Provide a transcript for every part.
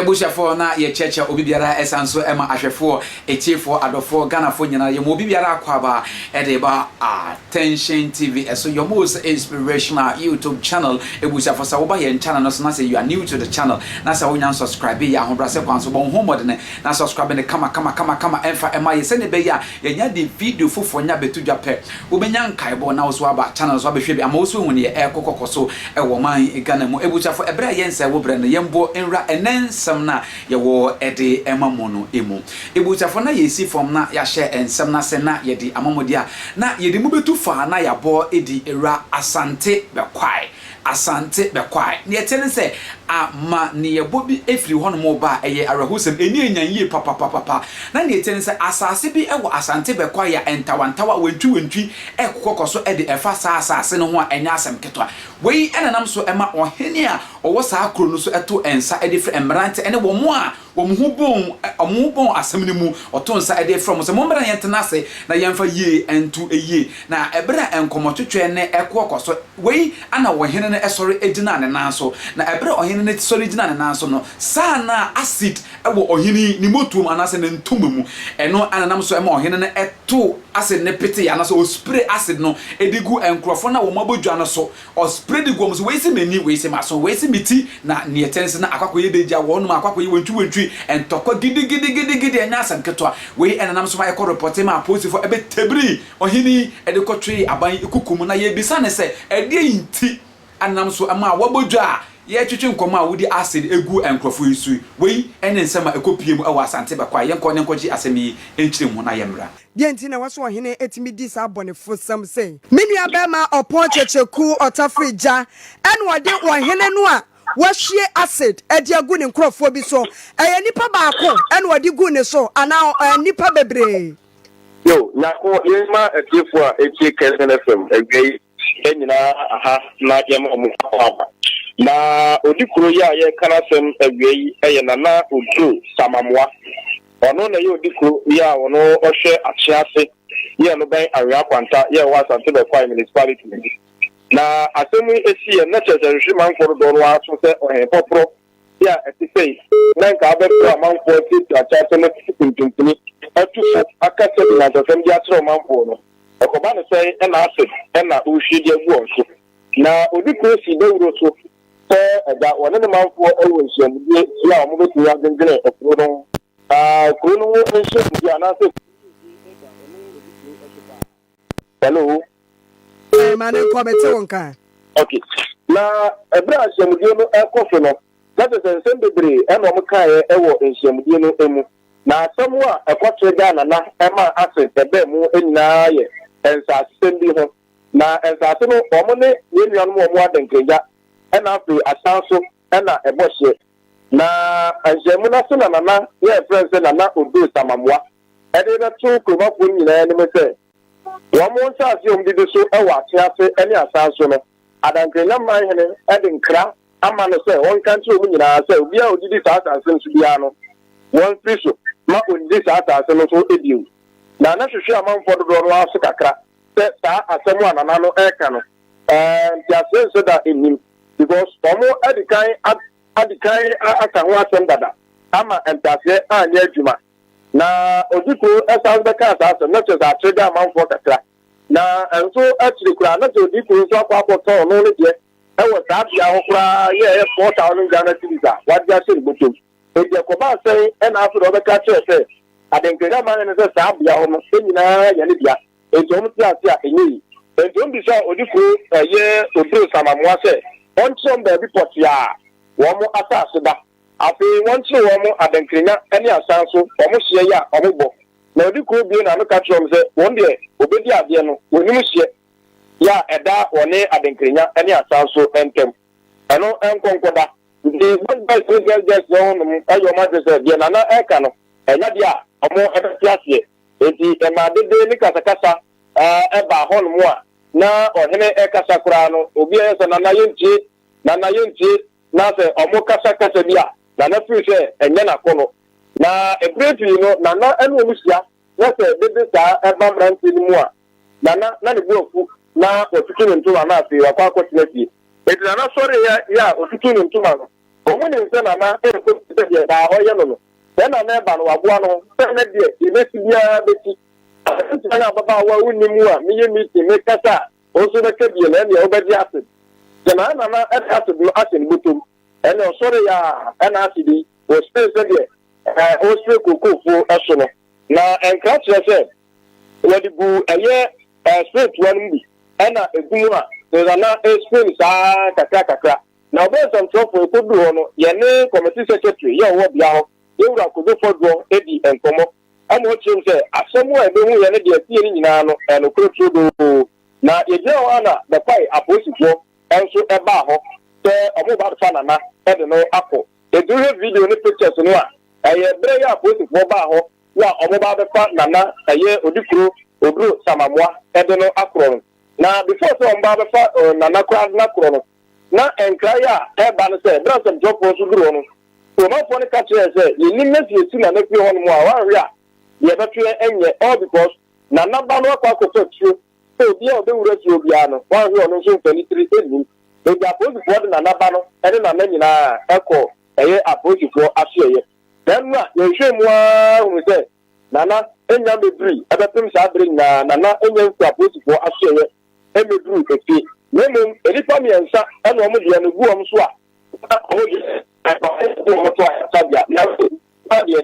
abusuafoɔ na yɛkyerɛkyerɛ obi biara ɛsan nso ɛma ahwɛfoɔ atiefoɔ adɔfoɔ ghanafoɔ nyinaa yɛma obi biara akwaaba ɛde ba a Tension TV so your most inspirational YouTube channel Ebusuafo sɛ woba yɛn channel no so na sɛ you are new to the channel na sɛ wonya nsubscribe yɛ ahobrɛase kwan so bɔ wo ho mmɔdene na subscribe no kama kama kama kama ɛmfa ɛma yɛ sɛnea ɛbɛyɛ a yɛnya de video foforo nya bɛto dwa pɛ wobɛnya nkaebɔ na wo so aba channel no so abɛhwɛ bi ama wo so ahu neɛ ɛrekɔ kɔkɔ so wɔ ɔman Ghana mu Ebusuafo ɛberɛ a yɛnsɛe wo berɛ no yɛn boɔ nwura ɛnnɛ nsɛm no a yɛwɔ de ma mo no mu. Ebusuafo no na yɛresi fam na yɛahyɛ nsɛm no ase na yɛde amamɔdi a na yɛde mu betu fã na yɛabɔ adi awura Asante Bɛkwae. Asante Bɛkwae. Nea ɛte ne sɛ, amanneɛbɔ bi firi hɔnom reba a ɛyɛ awerɛhosɛm. Ani anyan yie papapapapa. Na nea ɛte ne sɛ, asase bi wɔ Asante Bɛkwae a ntawantawa, wantwiwantwi, rekokɔ kɔ so de fa saa asase no ho a ɛnyɛ asɛm ketewa. Wei na ɛnam so ma ɔhene a ɔwɔ saa kuro no so to nsa de frɛ mmerante ne wɔn a Wɔn ho bɔɔ wɔn ho bɔɔ asɛm no mu, ɔtoo nsa de frɛɛ wɔn sɛ, Mommra na yɛntena ase na yɛmfa yie nto yie. Na ɛberɛ a nkɔmmɔtwetwɛ ne ɛko rekɔ so wei na ɔhene no sɔre gyinaa ne nan so. Na ɛberɛ a ɔhene no sɔre gyinaa ne nan so no, saa na acid wɔ ɔhene yi ne motuom anaasɛ ne ntoma mu. Ɛno na ɛnam so ma ɔhene no too acid no petee anaasɛ ɔspree acid no de guu nkurɔfoɔ no a wɔabɔ dwa no so Ɔspre de guɔ mu se, Wei se m'ani, wei se m'aso, wei se me ti, na neɛ ɛtɛ ne se na akɔ akɔyɛ dɛ gya wɔ hɔnom a akɔ akɔyɛ wantwiwantwi, ntɔkwa gidigidigidigidi, ɛnyɛ asɛm ketewa. Wei na nam so ma yɛkɔ repɔtee maa apolisifoɔ, ɛbɛtabirii ɔhene yi de kɔtwee aban yi kuku mu, na yɛrebisa no sɛ, ɛdeɛn nti na nam so ma a wɔabɔ dwa a yɛretwetwe nkɔmmɔ a wodi acid gu nkurɔfoɔ yi so yi? Wei ne nsɛm a ɛkɔpuee mu wɔ Asante bɛkɔ a yɛnkɔ ne nkɔgye asɛm yi nkyerɛmu na yɛmmra. Deɛn nti na ɛwɔ sɛ ɔhene tumi di saa abɔnefosɛm sei? Me nuabarima ɔpɔn kyekyeku ɔtafere gya na ɔde ɔhene no a wahwie acid de agu ne nkurɔfoɔ bi so. Ɛyɛ nipa baako na ɔde guu ne so anaa ɔɔ nipa bebree? Yo, Nyako, yei ma atiefoɔ a ɛtie Kɛnsɛn FM awia yi Yɛn nyinaa aha na yɛma wɔn akɔ aba. Na odi kuro yi a yɛreka n'asɛm awia yi yɛ Nana Oduro Samamoa. Ɔno na ɛyɛ odi kuro yi a ɔno ɔhwɛ Akyea ase yɛ no bɛn Anwea Kwanta yɛ ɛwɔ Asante Bɛkwai Municipality mu. Na asɛm yi si yɛ nnɛ kyerɛ sɛ ɛhwehwe manfoɔ dodoɔ no ara so sɛ ɔhempɔporɔ Bi a ɛte sɛɛ na nka abɛfrɛ amanfoɔ atiatia akyɛwasɛm asisi pintimpini, atu fo, akasa nyansasɛm de akyerɛ ɔmanfoɔ no. Ɛkɔba no sɛɛ na acid na wohwie de agu wɔn so. Na odi kuro si dawuro so sɛ ɛda wɔne ne manfoɔ wɔ nhyiamudie bi a wɔbɛtumi adwendwene kuro no ho. Na kuro no ho nhyiamudie anaasɛ kuro no mu bi da ɔno odi kuro so paa. Hello. Ɛɛ ma ne nkɔ mete wo nka. Ok na ɛberɛ a nhyiamudie no ɛkɔ so no na kyɛ sɛ nsɛm bebree ɛna wɔn kaeɛ ɛwɔ nhyiamudie no ɛmu na asɛm a ɛkɔtee Ghana na ɛmaa acid ɛbaa mu nyinaa yɛ nsaasesɛm bi ho na nsaase no wɔn ne yɛn nuanom wɔn adenkrengya ɛna afei asan so na ɛbɔ hyeɛ. Na nhyiamu no ase na Nana yɛ ɛfrɛ no sɛ Nana Odoi Samamwa de rebɛto kuromafoɔ no nyinaa anim sɛ wɔn nsaase a wɔdidi so wɔ Akyea ase ne Asan so no, Adankrenya man hene de nkra ama no sɛ ɔnka nkyerɛ wɔn nyinaa sɛ obiara a ɔdidi saa asaase no so biara no wɔmfiri so ma ɔnnidi saa asaase no so bio. Na na hwehwe amanfoɔ dodoɔ no ara so kakra. sɛ saa asɛm a nana no reka no ɛɛ nteaseɛ nhyɛ da nnim because wɔn adikan adikan aka ho asɛm dada ama nteaseɛ anyɛ adwuma na odikuro ɛsan so bɛka saa asɛm na kyerɛ sɛ akyerɛ gya amanfoɔ kakra na nso akyire koraa na sɛ odikuro nso akɔ akɔtɔn no ne deɛ ɛwɔ saa bea hɔ koraa yɛ ɛyɛ four thousand Ghana cedis a wade ahyɛ ne bɔtɔm. Enti ɛkɔbaa sɛn na afei na wɔbɛka kyerɛɛ sɛ adenkra aman no ne sɛ saa beaɔ no nyinaa yɛ ne dea? Enti wɔn te ase a ɛnyɛ yie. Enti wɔn bisaa odifo yɛ oduro samammoa sɛ ɔnkyerɛ wɔn baabi pɔtee a wɔn asase da. Afei wɔnkyere wɔn adenkranya ne asan nso wɔn hyeɛ yɛ a wɔn bɔ. Na odi kuro bue n'ano ka kyerɛ wɔn sɛ wɔn deɛ wɔbɛdi adeɛ no wɔnim hyeɛ yɛ a ɛda wɔne adenkranya ne asan nso ntam. Ɛno nkɔ nkɔ da. Nti Boys Boys ne Girls Girls no nom yɛ wɔn adwene sɛ deɛ Nana reka no, ɛnyɛ adeɛ a wɔbɛte aseɛ. Nti ɛmaa dede ne kasakasa baa hɔnom a na ɔhene rekasa koraa no, obi yɛ sɛ Nana yɛntie, Nana yɛntie, na sɛ wɔkasa kasa bi a, Nana firi sɛ ɛnyɛ n'akɔnnɔ. Na berɛ pii no, Nana ne wɔn hyia. na sɛ dede saa ba mmeranteɛ no mu a, Nana na ne bo afu na watutu ne ntoma na afei wakɔ akɔtena fie. Enti Nana sɔreeɛ yɛ a ɔtutuu ne ntoma no. Wɔn nim sɛ Nana nkɔ fie sɛ deɛ daa ɔyɛ no no. Sɛ Nana reba no, waboa no ho sɛ ɛnnɛ deɛ yɛbɛsi biara bɛsi. Aberanteɛ ne ababaawa a wonnim mu a meyɛ meeting mekasa a, wo nso bɛka bi na ɛnneɛ wobɛgye acid. Gyinaa Nana de acid no ahyɛ ne bɔtɔ mu. Ɛnna ɔsɔree a ɛna ase din wɔ Spain sɛdeɛ ɛɛ ɔresrɛ Kokofoɔ so no, na ɛnkra kyerɛ sɛ wɔde guu ɛyɛ ɛɛ Spain toa no mu bi ɛna ɛgu mu a Cesar na ɛɛ Spain saa ara kakra kakra. Na ɔbɛyɛ nsɛmtwerɛfoɔ, ɛkɔduruu hɔ no yɛne Committee Secretary yɛ ɔwɔ bea hɔ, Yɛwura Kojo Fɔdroɔ dii nkɔmmɔ ɛna ɔkyerɛɛ mu sɛ asɛm a yɛbɛhuiɛ ne deɛ ɛteeɛ no nyinaa no ɛyɛ nokorɛ turodoo. Na yɛgyina hɔ ara na bɛpaee apolisifoɔ nso baa hɔ sɛ wɔreba abɛfa Nana de no akɔ. Enti wohwɛ video ne pictures no a, ɛyɛ bere yi a apolisifoɔ baa hɔ na wɔreba abɛfa Nana, ɛyɛ Odikuro Oduro Samamoa, de no akorɔ no. Na before sɛ wɔba abɛfa Nana koraa de no akorɔ no, na nkraeɛ a ɛba no sɛ, bere a nsɛmtwerɛfoɔ nso duru hɔ no, Kuromanfoɔ no ka kyerɛɛ sɛ, yɛnnim na sɛ yɛsi Nana fie hɔnom a, wanhwe a, deɛ ɛbɛto yɛn nyɛ, all because Nana ba no akɔ akɔfa tuo Sɛ obiara a ɔbɛwura fie hɔ biara no, wanhwɛ a ɔno nso mfa anitire nnim. Enti apolisifoɔ de Nana ba no ne Nana nyinaa kɔɔ ɛyɛ apolisifoɔ asoɛeɛ. Nanso a yɛhwehwɛɛ mu ara hunuu sɛ Nana nnya mmɛdurui. Ɛbɛpem saa berɛ nyinaa, Nana nnya mfiri apolisifoɔ asoɛeɛ mmɛduruu efie. Na mmom nnipa mmiɛnsa na wɔn deɛ no gu wɔn so a na wɔn deɛ, ɛkɔm de wɔn to ayaresa bea. Nanso Nana deɛ,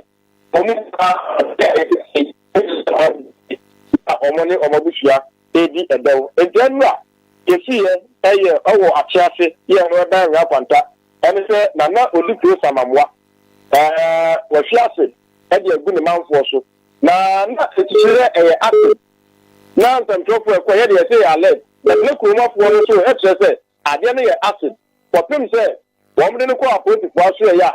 Wɔn mu paa te ase te sɛɛ, efisɛ wɔn ho adwiriw na wɔn ne wɔn abusua redi dɛw. Enti ɛno a yesiiɛ yɛ wɔ akyɛ ase yɛɛ no bɛn Nyaa Kwanta ne sɛ Nana odi kuro Samamoa. Ɛɛ, wahwi ase de agu ne manfoɔ so. Na na titire dɛ ɛyɛ Asen na nsɛmtwerɛfoɔ ɛkɔ yɛ deɛ ɛseyɛ alert bɛtena kurom afoɔ no so kyerɛ sɛ adeɛ no yɛ Asen kɔpem sɛ wɔn de no kɔ apolisifoɔ asoɛeɛ a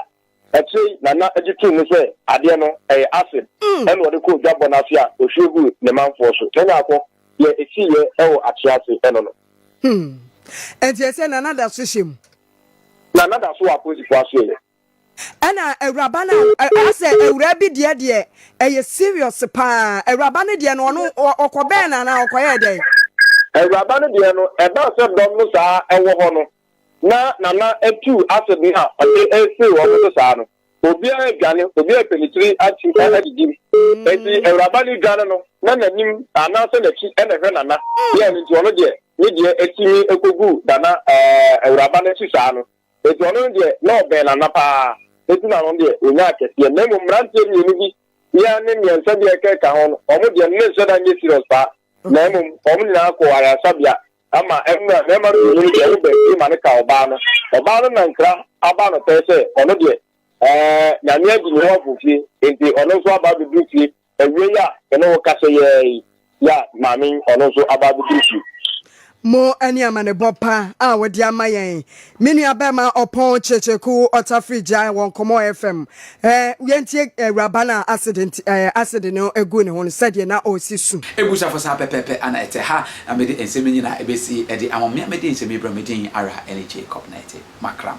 Akyire yi, Nana gye too mu sɛ adeɛ no, ɛyɛ acid na ɔde kɔɔ dwabɔ no ase a ɔhwie guu ne manfoɔ so. Nana akɔ. Deɛ ɛsiiɛ wɔ Akyease ɛno no. Hmm. Enti ɛsɛ Nana da so hyɛ mu? Nana da so wɔ apolisifoɔ asoɛeɛ. Ɛna awuraba no a, asɛ awuraa bi deɛ deɛ ɛyɛ serious paa. Awuraba no deɛ no, ɔno ɔkɔbɛn no anaa ɔkɔyɛɛ dɛn? Awuraba no deɛ no, ɛbaa sɛ dɔm no saa wɔ hɔ no, na Nana atuu asebne a ɔde resere wɔn so saa no, obiara redwane, obiara repɛ ne tiri atu adidi. Enti Awuraba no dwane no na n'anim anaasɛ n'akyi na ɛhwɛ Nana. Yɛ ɛno nti ɔno deɛ ne deɛ tumi kɔgu Nana, ɛɛ, Awuraba no akyi saa no. Enti ɔno no deɛ na ɔbɛn Nana pa ara, enti na ɔno deɛ ɔnyaa kɛseɛ. Na mmom mmeranteɛ mmienu bi, Ian ne mmiɛnsa bi a ɛkeka ho no, wɔn deɛ no ne nhyɛda nyɛ serious paa, na mmom wɔn nyinaa kɔɔ ayaresabea Ama ɛnnɛ, mmarima pii no deɛ wobɛn tiri ma no ka ɔbaa no. Ɔbaa no nankra aba no pɛɛ sɛ ɔno deɛ eh, Nyame adi ne ho aforɔfie, enti ɔno nso aba abɛduru fie awiei a me ne wo kasa yi ara yi ya maame yi ɔno nso aba abɛduru fie. Mo ɛne amanebɔ pa a wode ama yɛn Me nua bɛɛma ɔpɔn kyerekyere ko ɔtafiri gyae wɔ nkɔmɔ FM eh yɛn tie awuraba no a acid nti eh acid no guu ne ho no sɛdeɛ na ɔresi su. Abusuafo saa pɛpɛɛpɛ ara na ɛte ha na mede nsɛm yi nyinaa ɛbɛsi ɛde ama mo me a mede nsɛm yi brɛ me din ara ɛne Jacob Nartey Makram.